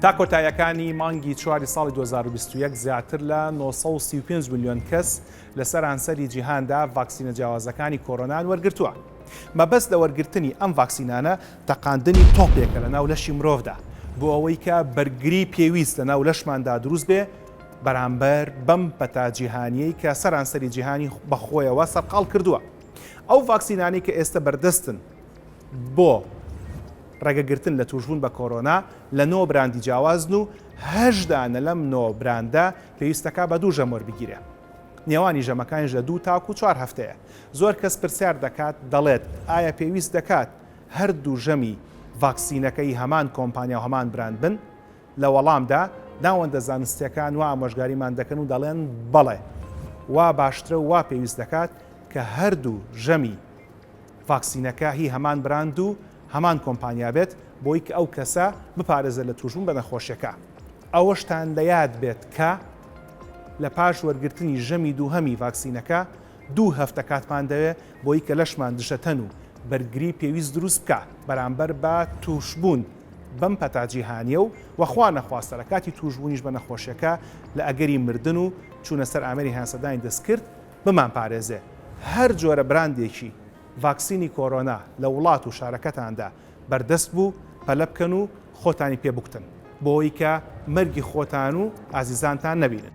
تا کۆتایەکانی مانگی چواری ساڵی 2021 زیاتر لە 935 میلیۆن کەس لە سەرانسەری جیهاندا ڤاکسینە جیاوازەکانی کۆرۆنان وەرگرتووە. مەبەست لە وەرگرتنی ئەم ڤاکسینانە تەقاندنی تۆپێکە لە ناو لەشی مرۆڤدا بۆ ئەوەی کە بەرگری پێویست لە ناو لەشماندا دروست بێ بەرامبەر بەم پەتا جیهانیەی کە سەرانسەری جیهانی بەخۆیەوە سەرقاڵ کردووە. ئەو ڤاکسینانەی کە ئێستە بەردەستن بۆ ڕێگەگرتن لە تووشبوون بە کۆرۆنا لە نۆ براندی جیاوازن و هەش دانە لەم نۆ براندە پێویستەکە بە دوو ژەم وەربگیرێ. نێوانی ژەمەکانیش لە دوو تاکو و چوار هەفتەیە. زۆر کەس پرسیار دەکات دەڵێت ئایا پێویست دەکات هەردوو ژەمی ڤاکسینەکەی هەمان کۆمپانیا و هەمان براند بن؟ لە وەڵامدا ناوەندە زانستییەکان وا ئامۆژگاریمان دەکەن و دەڵێن، بەڵێ، وا باشترە و وا پێویست دەکات کە هەردوو ژەمی ڤاکسینەکە هی هەمان براند و هەمان کۆمپانیا بێت بۆی ئەو کەسە بپارێزێت لە تووشبوون بە نەخۆشیەکە. ئەوەشتان لە یاد بێت کە لە پاش وەرگرتنی ژەمی دووهەمی ڤاکسینەکە دوو هەفتە کاتمان دەوێت بۆی کە لەشمان دژەتەن و بەرگری پێویست دروست بکا بەرامبەر بە تووشبوون بەم پەتا جیهانیە و وە خوا نەخواستە لە کاتی تووشبوونیش بە نەخۆشیەکە لە ئەگەری مردن و چوونە سەر ئامێری هەناسەدانی دەستکرد بمان پارێزێ. هەر جۆرە براندێکی ڤاکسینی کۆرۆنا لە وڵات و شارەکەتاندا بەردەست بوو پەلە بکەن و خۆتانی پێ بکوتن بۆ ئەوەی کە مەرگی خۆتان و ئازیزانتان نەبینن.